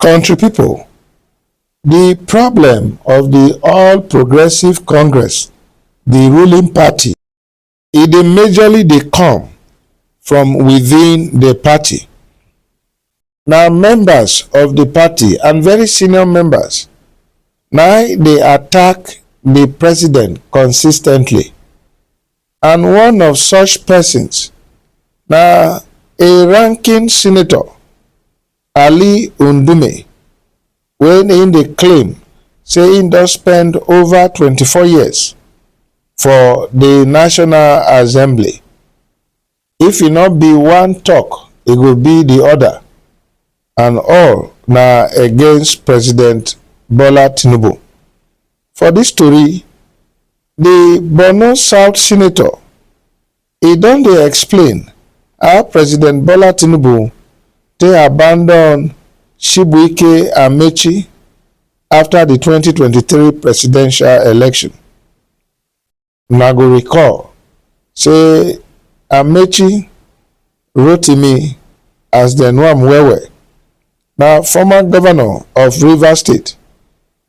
Country people, the problem of the All Progressive Congress, the ruling party, e dey majorly dey come from within the party. Na members of the party and very senior members na dey attack the president consistently and one of such persons na a ranking senator Ali Ndume wey im dey claim say im don spend ova twenty four years for di National Assembly, if e no be one tok e go be di oda and all na against President Bola Tinubu. For dis tori, di Borno South Senator, E don dey explain how President Bola Tinubu take abandon Chibuike Amechi after di twenty twenty three presidential election. Una go recall say Amechi, Rotimi as dem know am well well, na former governor of Rivers State.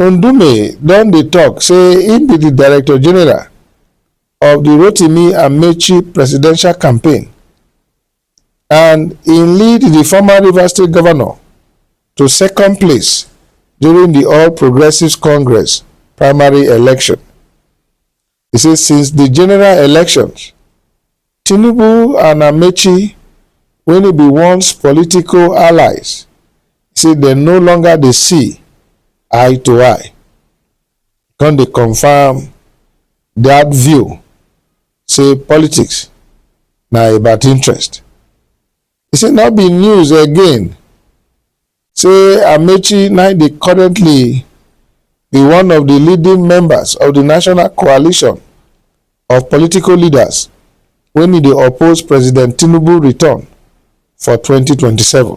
Ndume don dey tok say im be di director general of di Rotimi Amechi presidential campaign and im lead di former Rivers State governor to second place during di All Progressives Congress primary election. He say since di general elections, Tinubu and Amechi wey e be once political allies say dem no longer dey see eye to eye. Come dey confam dat view say politics na about interest. He say no be news again say Amechi na dey currently be one of di leading members of di national coalition of political leaders wey e dey oppose President Tinubu return for twenty twenty seven.